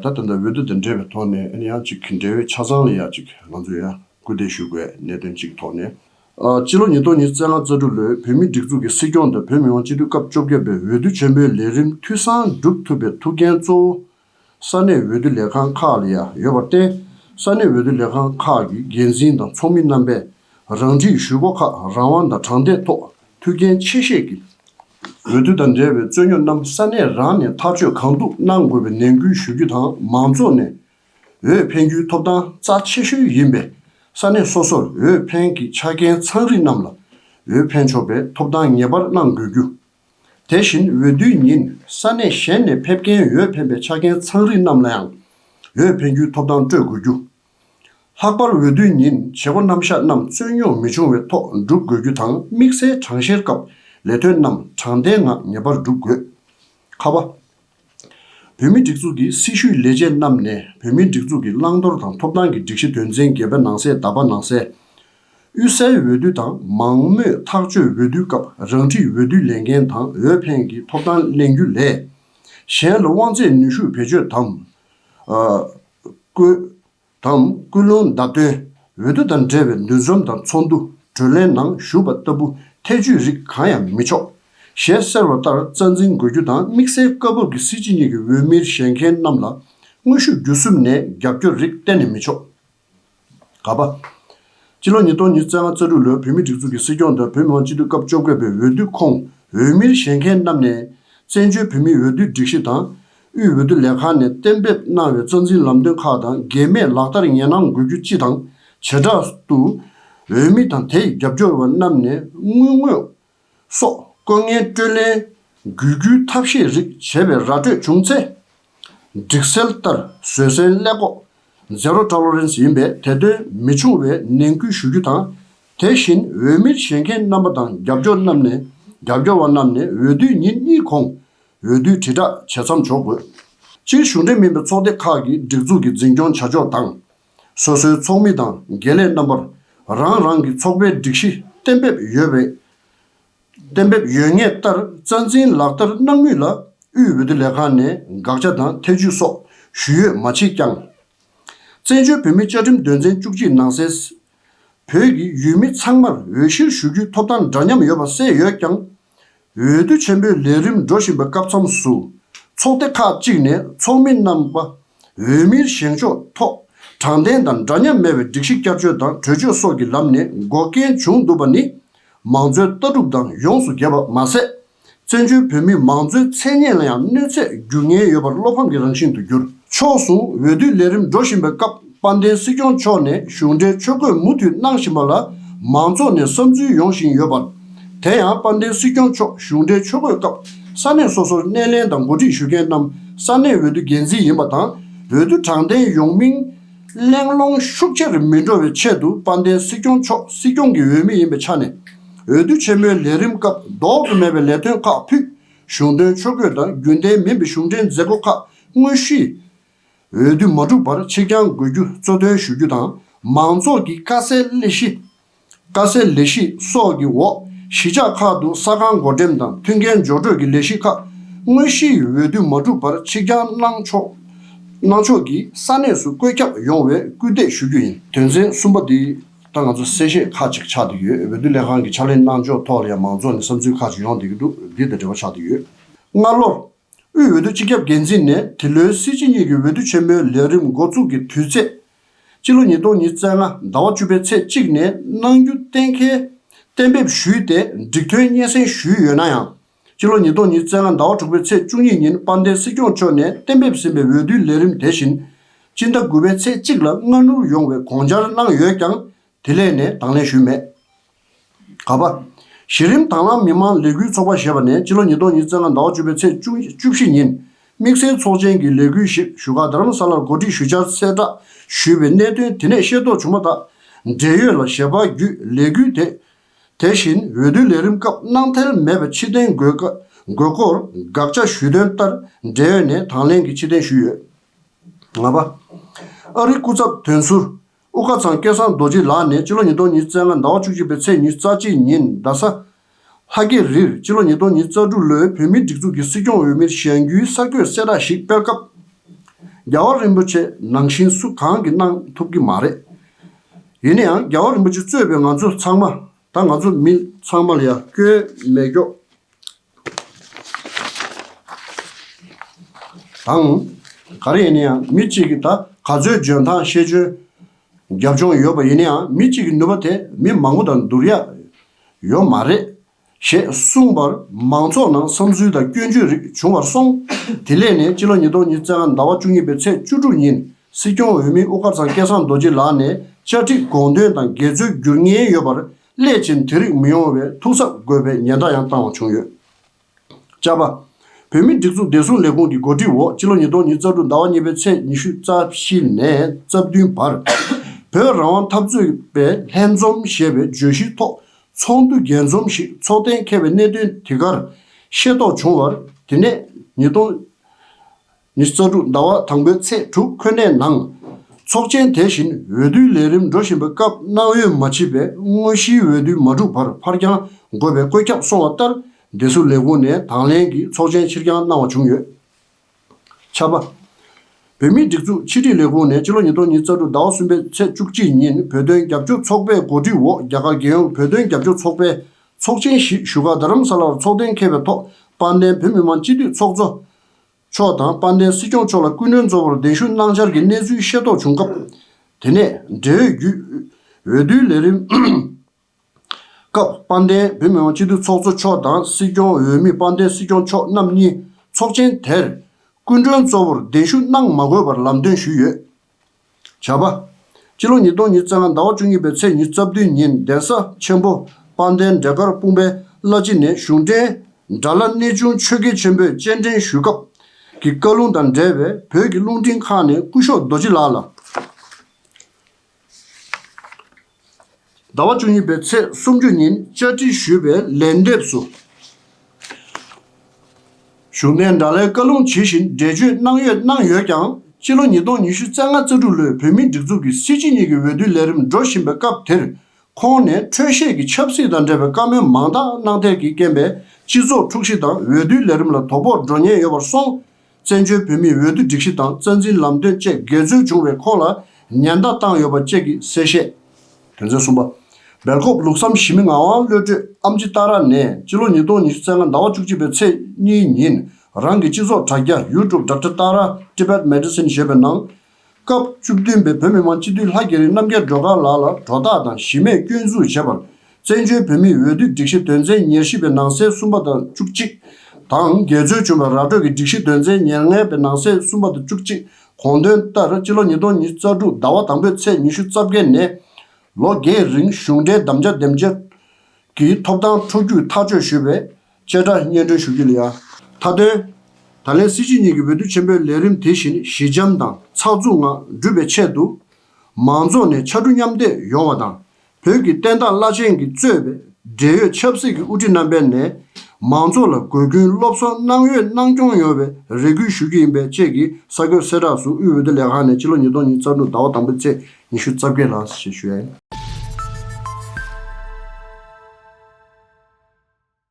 ད་དེ་འདྲ་འོས་བསྡུ་དང་འབྲེལ་བའི་ཐོག་ནས་ཡང་གཅིག་འབྲེལ་ཡོད་ཆ་ཚང་ལ་ཡང་གཅིག་ང་ཚོས་ཡང་སྐུལ་འདེད་ཞུ་དགོས་གནད་དོན་གཅིག་གི་ཐོག་ནས། སྤྱི་ལོ་ཉིས་སྟོང་ཉིས་བརྩེགས་ལྔ་རྩ་དྲུག་ལོའི་བོད་མིའི་སྒྲིག་འཛུགས་ཀྱི་སྲིད་སྐྱོང་དང་བོད་མི་མང་སྤྱི་འཐུས་སྐབས་བཅོ་བརྒྱད་པའི་འོས་བསྡུ་ཆེན་པོའི་ལས་རིམ་འཐུས་ཚང་བསྒྲུབ་ཐུབ་པའི་ཐུགས་འགན་གཙོ་བོ་ས་གནས་འོས་བསྡུ་ལས་ཁང་ཁག་ལ་ཡང་ཡོད་པར་བརྟེན་ས་གནས་འོས་བསྡུ་ལས་ཁང་ཁག་གི་འགན་འཛིན་དང་ཚོགས་མི་རྣམ་པས་རང་འཁྲིའི་ཞུ་སྒོ་ཁག་རང་དབང་དང་དྲང་བདེན་ཐོག་མཐུ་རྐྱེན་ཆེ་ཤས་ཀྱི་འོས་བསྡུ་དང་འབྲེལ་བའི་རྩོད་རྙོག་རྣམས་ས་གནས་རང་ནས་ཐག་གཅོད་གང་ཐུབ་གནང་དགོས་པའི་ནན་སྐུལ་ཞུ་རྒྱུ་དང་མང་ཚོགས་ནས་འོས་འཕེན་རྒྱུའི་ཐོབ་ཐང་རྩ་ཆེ་ཤོས་ཡིན་པས་ས་གནས་སོ་སོར་འོས་འཕེན་གྱི་ཆ་རྐྱེན་ཚང་རིགས་རྣམས་ལ་འོས་འཕེན་ཆོག་པའི་ཐོབ་ཐང་ངེས་པར་གནང་དགོས་རྒྱུ། དེ་བཞིན་འོས་བསྡུའི་ཉིན་ས་གནས་གཞན་ནས་ཕེབས་མཁན་འོས་འཕེན་པའི་ཆ་རྐྱེན་ཚང་རིགས་རྣམས་ལའང་འོས་འཕེན་རྒྱུའི་ཐོབ་ཐང་སྤྲོད་དགོས་རྒྱུ། ལྷག་པར་འོས་བསྡུའི་ཉིན་བྱེད་སྒོ་རྣམ་གཞག་རྣམས་རྩོད་རྙོག་མི་འབྱུང་བའི་ཐོག་འགྲུབ་དགོས་རྒྱུ་དང་དམིགས་བསལ་གྲངས་བཤེར་སྐབས་ལས་དོན་རྣམས་དྲང་བདེན་ངང་ངེས་པར་འགྲུབ་དགོས། ཁ་བ། བོད་མིའི་སྒྲིག་འཛུགས་ཀྱི་སྲི་ཞུའི་ལས་བྱེད་རྣམས་ནས་བོད་མིའི་སྒྲིག་འཛུགས་ཀྱི་བླང་དོར་དང་ཐོབ་ཐང་གི་སྒྲིག་གཞི་དོན་ཚན་བརྒྱད་པའི་ནང་གསལ་དག་པ་ནང་གསལ། དབུས་སའི་འོས་བསྡུ་དང་མང་མོས་ཐག་གཅོད་འོས་བསྡུའི་སྐབས་རང་འཁྲིའི་འོས་བསྡུ་ལས་འགན་དང་འོས་འཕེན་གྱི་ཐོབ་ཐང་གླེང་རྒྱུ་ལས། གཞན་ལ་དབང་ཚད་ནུས་ཤུགས་བེད་སྤྱོད་དམ། བཀོད། དང་སྐུལ་སློང་བརྡ་སྟོན་འོས་བསྡུ་དང་འབྲེལ་བའི་འདུ་འཛོམས་དང་ཚོགས་འདུ་གྲོས་གླེང་ནང་ཞུགས་པ་ལྟ་བུ་ཐེ་ཇུས་རིགས་གང་ཡང་མི་ཆོག། ཞེས་གསལ་བ་ལྟར་རྩ་འཛིན་དགོས་རྒྱུ་དང་དམིགས་བསལ་སྐབས་བབ་ཀྱི་སྲིད་སྤྱི་གཉིས་ཀྱི་འོས་མིར་བཞེངས་མཁན་རྣམས་ལ་དངོས་ཤུགས་བརྒྱུད་གསུམ་ནས་རྒྱབ་སྐྱོར་རིགས་གཏན་ནས་མི་ཆོག། ག་པ། སྤྱི་ལོ་ཉིས་སྟོང་ཉིས་བརྩེ་ལྔ་རྩ་དྲུག་ལོའི་བོད་མིའི་སྒྲིག་འཛུགས་ཀྱི་སྲིད་སྐྱོང་དང་བོད་མི་མང་སྤྱི་འཐུས་སྐབས་བཅོ་བརྒྱད་པའི་འོས་བསྡུ་ཁོངས་འོས་མིར་བཞེས་མཁན་རྣམས་ནས། བཙན་བྱོལ་བོད་མིའི་འོས་བསྡུའི་སྒྲིག་གཞི་དང། དབུས་འོས་བསྡུ་ལས་ཁང་ནས་གཏན་འབེབས་གནང་བའི་རྩ་འཛིན་ལམ་སྟོན་ཁག་དང་འགལ་མེད་ལག་བསྟར་ངེས་གནང་དགོས་རྒྱུ་སྤྱི་དང་བྱེ་བྲག་ཏུ། འོས་མི་དང་དེའི་རྒྱབ་སྐྱོར་བ་རྣམས་ནས་དངུལ་དངོས་སོགས་བཀོད་ངན་སྤྲོད་ལེན་འགུལ་རྒྱུའི་ཐབས་ཤེས་རིགས་བྱས་པའི་ར་སྤྲོད་བྱུང་ཚེ། སྒྲིག་སྲོལ་ལྟར་བཟོད་བསྲན་སླད་ལྐོག་ཟ་རོ་ཀྲ་ལོ་རེན་སི་ཡིན་པས་དེ་དོན་མི་བྱུང་བའི་ནན་སྐུལ་ཞུ་རྒྱུ་དང། དེ་བཞིན་འོས་མིར་བཞེས་མཁན་རྣམ་པ་དང་རྒྱབ་སྐྱོར་རྣམས་ནས་རྒྱབ་སྐྱོར་བ་རྣམས་ནས་འོས་བསྡུའི་ཉིན་གཉིས་གོང་འོས་བསྡུའི་དྲིལ་བསྒྲགས་བྱེད་མཚམས་འཇོག་དགོས། སྤྱིར་གཞུང་འབྲེལ་མིན་པའི་ཚོགས་སྡེ་ཁག་གིས་སྒྲིག་འཛུགས་ཀྱི་འཛིན་སྐྱོང་བྱ་ཕྱོགས་དང། སོ་སོའི་ཚོགས་མི་དང་དགེ་ལས་རྣམ་པར་རང་རང་གི་ཚོགས་པའི་སྒྲིག་གཞི་གཏན་འབེབས་ཡོད་པའི་གཏན་འབེབས་ཡོད་ངེས་ལྟར་རྩ་འཛིན་ལག་བསྟར་གནང་མུས་ལ་དབུས་འོས་བསྡུ་ལས་ཁང་ནས་དགག་བྱ་དང་ཐེ་བྱུས་སོགས་ཞུས་ཡོད་མ་མཆིས་ཀྱང། བཙན་བྱོལ་བོད་མིའི་བཅའ་ཁྲིམས་དོན་ཚན་བཅུ་གཅིག་ནང་གསལ། བོད་ཀྱི་ཡུལ་མི་ཚང་མར་འོས་གཞིར་ཞུགས་རྒྱུའི་ཐོབ་ཐང་འདྲ་མཉམ་ཡོད་པ་གསལ་ཡོད་ཀྱང། འོས་བསྡུ་ཆེན་པོའི་ལས་རིམ་འགྲོ་བཞིན་པའི་སྐབས་མཚམས་སུ། ཚོགས་སྡེ་ཁག་ཅིག་ནས་ཚོགས་མི་རྣམ་པ་འོས་མིར་བཞེངས་ཕྱོགས་ཐོག་དྲང་བདེན་དང་འདྲ་མཉམ་མེད་པའི་སྒྲིག་གཞི་བསྐྱར་བཅོས་དང་གྲོས་ཆོད་སོགས་ཀྱི་ལམ་ནས་འགོག་རྐྱེན་བྱུང་འདུག་པ་ནི། མང་གཙོའི་ལྟ་གྲུབ་དང་ཡོངས་སུ་འགལ་བ་མ་ཟད། བཙན་བྱོལ་བོད་མིའི་མང་གཙོའི་མཚན་སྙན་ལ་ཡང་གནོད་འཚེ་འགྱུར་ཉེན་ཡོད་པར་བློ་ཕམ་གྱི་རང་བཞིན་དུ་གྱུར། ཕྱོགས་ཟུང་འོས་བསྡུའི་ལས་རིམ་འགྲོ་བཞིན་པའི་སྐབས། དཔལ་ལྡན་སྲིད་སྐྱོང་མཆོག་ནས་གཞུང་འབྲེལ་ཆོས་འཁོད་མུ་མཐུད་གནང་བཞིན་པ་ལ་མང་ཚོགས་ནས་བསམ་ཚུལ་ཡོང་བཞིན་ཡོད་པར། དེ་ཡང་དཔལ་ལྡན་སྲིད་སྐྱོང་མཆོག་གཞུང་འབྲེལ་ཆོས་འཁོད་སྐབས་ས་གནས་སོ་སོར་སྣེ་ལེན་དང་འགོ་ཁྲིད་ཞུ་མཁན་རྣམས་ས་གནས་འོས་བསྡུ་འགན་འཛིན་ཡིན་པ་དང་འོས་བསྡུ་དྲང་བདེན་ཡོང་མིན། གླེང་སློང་ཤུགས་ཆེར་མི་འགྲོ་བའི་ཆེད་དུ་དཔལ་ལྡན་སྲིད་སྐྱོང་མཆོག་སྲིད་སྐྱོང་གི་འོས་མི་ཡིན་པའི་ཆ་ནས། འོས་བསྡུ་ཆེན་མོའི་ལས་རིམ་སྐབས་ལྡོག་ཏུ་མེད་པའི་ལས་དོན་ཁག་ཕུད། གཞུང་དོན་ཆོས་འཁོད་དང་རྒྱུན་ལྡན་མིན་པའི་གཞུང་འབྲེལ་མཛད་སྒོ་ཁག་དངོས་གཞིའི་འོས་བསྡུ་མ་འགྲུབ་པར་ཕྱིར་འགྱངས་དགོས་རྒྱུ་གཙོ་དོན་ཞུ་རྒྱུ་དང་མང་ཚོགས་ཀྱིས་དཀའ་སེལ་སླད་གཞི། དཀའ་སེལ་ལས་གཞི་སོགས་ཀྱི་འོག་གཞིས་ཆགས་ཁག་ཏུ་ས་ཁང་བགོ་འགྲེམས་དང་མཐུན་རྐྱེན་སྦྱོར་སྤྲོད་ཀྱི་ལས་གཞི་ཁག་དངོས་གཞིའི་འོས་བསྡུ་མ་འགྲུབ་པར་ཕྱིར་འགྱངས་གནང་ཕྱོགས་གནང་ཕྱོགས་ཀྱིས་ས་གནས་སུ་བཀོད་ཁྱབ་ཡོང་བའི་སྐུལ་འདེད་ཞུ་རྒྱུ་ཡིན། དོན་ཚན་གསུམ་པ་འདི་ལྟར་ང་ཚོ་གསལ་བཤད་ཁག་ཅིག་ཆགས་འདི་ཡོད་འོས་བསྡུ་ལས་ཁང་གི་ཕྱག་ལེན་གནང་ཕྱོགས་ཐོག་ལ་ཡང་མང་ཚོགས་ནས་བསམ་ཚུལ་ཁག་ཅིག་ཡོང་འདི་གི་འདུག་འདི་ལྟར་འབྲེལ་བ་ཆགས་འདི་ཡོད། སྔར་ལོར་དབུས་འོས་བསྡུ་སྤྱི་ཁྱབ་འགན་འཛིན་ནས་དེ་ལོའི་སྲིད་སྤྱི་གཉིས་ཀྱི་འོས་བསྡུ་ཆེན་མོའི་ལས་རིམ་མགོ་བཙུགས་ཀྱི་དུས་ཚེས། སྤྱི་ལོ་ཉིས་སྟོང་ཉིས་བརྩེགས་ལྔ་ཟླ་བ་བཅུ་པའི་ཚེས་གཅིག་ནས་གནང་རྒྱུ་གཏན་འཁེལ། གཏན་འབེབས་ཞུས་ཏེ་འགྲིག་ཐོན་སྙན་སེང་ཞུས་ཡོད་ན་ཡང། སྤྱི་ལོ་ཉིས་སྟོང་ཉིས་བརྩེགས་ལྔ་ཟླ་བ་དྲུག་པའི་ཚེས་བཅུ་གཉིས་ཉིན་དཔལ་ལྡན་སྲིད་སྐྱོང་མཆོག་ནས་གཏན་འབེབས་ཟིན་པའི་འོས་བསྡུའི་ལས་རིམ་དེ་བཞིན། སྤྱི་ཟླ་དགུ་པའི་ཚེས་གཅིག་ལ་སྔ་སྣུར་ཡོང་བའི་དགོངས་འཆར་གནང་ཡོད་ཀྱང་དེ་ལས་ནས་དང་ལེན་ཞུས་མེད། ག་པ། གཞི་རིམ་དྭང་བླངས་མི་དམངས་ལས་འགུལ་ཚོགས་པ་ཞེས་པ་ནས་སྤྱི་ལོ་ཉིས་སྟོང་ཉིས་བརྩེགས་ལྔ་ཟླ་བ་བཅུ་པའི་ཚེས་བཅུ་བཅུ་བཞི་ཉིན་དམིགས་བསལ་ཚོགས་ཆེན་གྱི་ལས་འགུལ་ཞིག་བཞུགས་སྒར་དྷ་རམ་ས་ལར་གོ་སྒྲིག་ཞུ་བཅར་གསལ་བསྒྲགས་ཞུས་པའི་གནད་དོན་དེ་ནས་ཤེས་རྟོགས་བྱུང་མ་ཐག་འབྲེལ་ཡོད་ལ་ཞལ་པར་བརྒྱུད་ལས་འགུལ་དེ་དེ་བཞིན་འོས་བསྡུ་ལས་རིམ་སྐབས་གནང་ཐལ་མེད་པའི་ཕྱི་རྟེན་དགོས་དགོས་སྐོར་དགག་བྱ་ཞུས་དོན་ལྟར་འབྲེལ་ཡོད་ནས་དང་ལེན་གྱིས་ཕྱི་རྟེན་ཞུས་ཡོད། ལྔ་པ། ཨ་རིའི་སྐུ་ཚབ་དོན་ཟུར་དབུ་དཀར་ཚང་སྐལ་བཟང་རྡོ་རྗེ་ལགས་ནས་སྤྱི་ལོ་ཉིས་སྟོང་ཉིས་བརྩེགས་ལྔ་ཟླ་བ་བཅུ་གཅིག་པའི་ཚེས་ཉིན་རྩ་གཅིག་ཉིན་རྡ་ས། ལྷ་རྒྱལ་རིར་སྤྱི་ལོ་ཉིས་སྟོང་ཉིས་རྩ་དྲུག་ལོའི་བོད་མིའི་སྒྲིག་འཛུགས་ཀྱི་སྲིད་སྐྱོང་འོས་མིར་བཞེངས་རྒྱུའི་གསར་འགོད་གསལ་བསྒྲགས་ཤིག་སྤེལ་སྐབས། རྒྱལ་བ་རིན་པོ་ཆེ་ནང་བཞིན་སུ་གང་གིས་གནང་ཐུབ་ཀྱི་མ་རེད། ཡིན་ན་ཡང་རྒྱལ་བ་རིན་པོ་ཆེ་གཙོས་པའི་ང་ཚོ་ཚང་མ་ད་ང་ཚོ་མི་ཚང་མ་ལ་ཡང་སྐྱོན་མེད་སྐྱོ། དང། ག་རེ་ཡིན་ན་ཡང་མི་གཅིག་གིས་ད་ག་ཚོད་འཇོན་ཐང་ཤེས་འཇོན་རྒྱབ་ལྗོངས་ཡོད་པ་ཡིན་ན་ཡང་མི་གཅིག་གི་ནུས་པ་དེ་མི་མང་པོ་དང་བསྡུར་ཡག་ཡོད་མ་རེད། ཞེས་གསུངས་པར་མང་ཚོགས་ནང་བསམ་ཚུལ་དང་སྐྱོན་བརྗོད་རིགས་བྱུང་བར་སོང། དེ་སླད་ནས་སྤྱི་ལོ་ཉིས་སྟོང་ཉིས་བརྩེགས་ལྔ་ཟླ་བ་བཅུ་གཉིས་པའི་ཚེས་བཅུ་དྲུག་ཉིན་སྲིད་སྐྱོང་འོས་མི་དབུ་དཀར་ཚང་སྐལ་བཟང་རྡོ་རྗེ་ལགས་ནས་བཅའ་ཁྲིམས་དགོངས་དོན་དང་འགལ་འཛོལ་བསྒྱུར་ཉེན་ཡོད་པར་སླད་ཕྱིན་དེ་རིགས་མི་ཡོང་བའི་ཐུགས་གཟབ་དགོས་པའི་ཉེན་བརྡ་ཡང་བཏང་བ་བྱུང་ཡོད། བཅའ་བ། བོད་མིའི་སྒྲིག་འཛུགས་བདེ་སྲུང་ལས་ཁུངས་ཀྱི་འགོ་ཁྲིད་འོག་ཕྱི་ལོ་ཉིས་སྟོང་ཉིས་བརྩ་དྲུག་ཟླ་བ་གཉིས་པའི་ཚེས་ཉི་ཤུ་རྩ་བཞི་ནས་རྩ་བདུན་བར། བོད་རང་དབང་འཐབ་རྩོད་པའི་ལྷན་འཛོམས་ཞེས་པའི་བརྗོད་གཞིའི་ཐོག་ཚོགས་འདུ་རྒྱས་འཛོམས་ཤིག་འཚོགས་གཏན་འཁེལ་བའི་གནད་དོན་དེ་གར་ཤེས་རྟོགས་བྱུང་བར་དེ་ནས་ཉིས་སྟོང། ཉིས་བརྩོན་དྲུག་ཟླ་བ་དང་པོའི་ཚེས་དྲུག་ཁོ་ནའི་ནང། ཚོགས་ཆེན་དེ་བཞིན་འོས་བསྡུའི་ལས་རིམ་འགྲོ་བཞིན་པའི་སྐབས་གནང་ཡོད་མ་མཆིས་པའི་དངོས་གཞིའི་འོས་བསྡུ་མ་གྲུབ་བར་ཕར་འགྱངས་དགོས་པའི་བཀོད་ཁྱབ་སོང་བ་ལྟར་འདེད་ཚུལ་ལས་ཁུངས་ནས་དང་ལེན་གྱིས་ཚོགས་ཆེན་ཕྱིར་འགྱངས་གནང་བ་བྱུང་ཡོད། ཆ་བ། བོད་མིའི་སྒྲིག་འཛུགས་ཕྱི་དྲིལ་ལས་ཁུངས་ནས་ཕྱི་ལོ་ཉིས་སྟོང་ཉིས་བརྩ་དྲུག་ཟླ་བ་གསུམ་པའི་ཚེས་བཅུ་གཅིག་ཉིན་བོད་དོན་རྒྱབ་སྐྱོར་ཚོགས་པའི་གོ་སྒྲིག་འོག་རྒྱ་གར་རྒྱལ་ཡོངས་བོད་དོན་རྒྱབ་སྐྱོར་ཚོགས་པའི་ཚོགས་ཆེན་བཞི་བཞུགས་སྒར་རྡ་རམ་ས་ལར་ཚོགས་གཏན་འཁེལ་བའི་ཐོག་པར་འདན་བོད་མི་མང་སྤྱི་འཐུས་ཚོགས་གཙོ། མཆོག་དང་དཔལ་ལྡན་སྲིད་སྐྱོང་མཆོག་ལ་སྐུ་མགྲོན་གཙོ་བོར་གདན་ཞུ་གནང་འཆར་གྱི་གནས་ཚུལ་ཤེས་རྟོགས་བྱུང་སྐབས། དེ་ནས་འབྲེལ་ཡོད་བརྒྱུད། འོས་བསྡུའི་ལས་རིམ། སྐབས་དཔལ་ལྡན་བོད་མི་མང་སྤྱི་འཐུས་ཚོགས་གཙོ་མཆོག་དང་སྲིད་སྐྱོང་འོས་མི་དཔལ་ལྡན་སྲིད་སྐྱོང་མཆོག་རྣམ་གཉིས་ཚོགས་ཆེན་དེར་སྐུ་མགྲོན་གཙོ་བོར་གདན་ཞུ་གནང་མ་དགོས་པར་ལམ་སྟོན་ཞུས་ཡོད། བྱ་བ། སྤྱི་ལོ་ཉིས་སྟོང་ཉིས་བརྩེགས་ལྔ་ཟླ་བ་བཅུ་གཉིས་པའི་ཚེས་ཉི་རྩ་བདུན་ཉིན་གདན་ས་ཆེན་པོ་དཔལ་ལྡན་འབྲས་དཀར་སྤུངས་པའི་བླ་སྤྱི་ནས་གཞུང་འབྲེལ་དགྲ་བླ་གནས་ཆུང་ཆོས་དགེ་ཆེན་པོས་སྤྱན་འདྲེན་ཞུས་སྐབས་ཀྱི་བཀའ་ལུང་དང་འབྲེལ་བའི་བོད་ཀྱི་རླུང་འཕྲིན་ཁག་ནས་སྐུ་ཞོགས་རྡོ་རྗེ་ལགས་ལ། ཟླ་བ་བཅུ་གཉིས་པའི་ཚེས་སུམ་ཅུ་ཉིན་བཅའ་ཁྲིམས་ཞུས་པའི་ལན་འདེབས་སུ། གཞུང་འབྲེལ་དྲྭ་ལའི་བཀའ་ལུང་ཇི་བཞིན་འགྲེལ་བརྗོད་གནང་ཡོད་གནང་ཡོད་ཀྱང་ཕྱི་ལོ་ཉིས་སྟོང་ཉི་ཤུ་རྩ་ལྔ་རྩ་དྲུག་ལོའི་བོད་མིའི་སྒྲིག་འཛུགས་ཀྱི་སྲིད་སྤྱི་གཉིས་ཀྱི་འོས་བསྡུའི་ལས་རིམ་འགྲོ་བཞིན་པའི་སྐབས་དེར་ཁོང་ནས་འཕྲོད་བཞེས་ཀྱི་ཆབ་སྲིད་དང་འབྲེལ་བའི་བཀའ་མོལ་མང་དག་གནང་ཐད་ཀྱིས་རྐྱེན་པས་སྤྱི་ཚོགས་འཁྲུག་གཞི་དང་འོས་བསྡུའི་ལས་རིམ་ལ་དོ་ཕོག་འགྲོ་ཉེན་ཡོད་པར་སོང་བཙན་བྱོལ་བོད་མིའི་འོས་བསྡུ་སྒྲིག་གཞི་དང་རྩ་འཛིན་ལམ་སྟོན་བཅས་འགལ་འཛོལ་བྱུང་བའི་ཁོངས་ལ་ཉེན་བརྡ་བཏང་ཡོད་པ་བཅས་ཀྱི་གསལ་བཤད། དོན་ཚན་གསུམ་པ། སྦེལ་ཀོབ་ལུགས་བསམ་ཞི་མི་ངག་དབང་བློ་གྲོས་ཨམ་ཅི་ཏཱ་ར་ནས་སྤྱི་ལོ་ཉིས་སྟོང་ཉི་ཤུ་ཚེས་ལྔ་ཟླ་བ་བཅུ་གཅིག་པའི་ཚེས་གཉིས་ཉིན་རང་གི་སྤྱི་ཚོགས་དྲ་རྒྱ YouTube Doctor Tara Tibetan Medicine ཞེས་པའི་ནང་སྐབས་བཅུ་བདུན་པའི་བོད་མི་མང་སྤྱི་འཐུས་ལྷ་རྒྱལ་རིན་རྣམ་རྒྱལ་སྒྲོལ་དཀར་ལགས་ལ་གྲོ་བཏགས་དང་གཞི་མེད་སྐྱོན་འཛུགས་བྱས་པར་བཙན་བྱོལ་བོད་མིའི་འོས་བསྡུ་སྒྲིག་གཞི་དོན་ཚན་ཉེར་བཞི་པའི་ནང་གསེས་གསུམ་པ་དང་བཅུ་གཅིག་དང་རྒྱལ་རྩོལ་བྱུང་བའི་ར་སྤྲོད་ཀྱི་སྒྲིག་གཞི་དོན་ཚན་ཉེར་ལྔའི་པའི་ནང་གསེས་གསུམ་པ་དང་བཅུ་གཅིག་གོང་དོན་ལྟར་སྤྱི་ལོ་ཉིས་སྟོང་ཉིས་རྩ་དྲུག་ཟླ་བ་དང་པོའི་ཚེས་ཉི་ཤུ་རྩ་བརྒྱད་ནས་ལོ་བརྒྱད་རིང་གཞུང་འབྲེལ་དམ་བཅའ་འདེམས་བསྐོ་གི་ཐོབ་ཐང་འཕྲོ་རྒྱུག་ཐག་གཅོད་ཞུས་པའི་བཅད་ཁྲ་སྙན་སྒྲོན་ཞུ་རྒྱུ་ལ་ཡང། མཐའ་དོན། ད་ལན་སྲིད་སྤྱི་གཉིས་ཀྱི་འོས་བསྡུ་ཆེན་པོའི་ལས་རིམ་དེ་བཞིན་ཞི་འཇམ་དང་ཚགས་ཚུགས་ངང་འགྲུབ་པའི་ཆེད་དུ། མང་ཚོགས་ནས་ཕྱར་གྲུ་མཉམ་འདེགས་ཡོང་བ་དང་བོད་ཀྱི་བསྟན་བདག་བླ་ཆེན་གྱིས་གཙོས་པའི་འབྲེལ་ཡོད་ཆབ་སྲིད་ཀྱི་དབུ་ཁྲིད་རྣམ་པས་ནས་མང་ཚོགས་ལ་དགོས་མཁོའི་སློབ་གསོ་གནང་ཡོད་གནང་སྐྱོང་ཡོང་བའི་རེ་སྐུལ་ཞུ་རྒྱུ་ཡིན་པས་བཅས་ཀྱི་ས་ཁོད་གསལ་བསྒྲགས་སུ་དབུས་འོས་བསྡུ་ལས་ཁང་ནས་སྤྱི་ལོ་ཉིས་སྟོང་ཉིས་རྩ་དྲུག་ཟླ་བ་དང་པོའི་ཚེས་ཉི་ཤུ་རྩ་བརྒྱད་ལ་ཞེས་བཤད།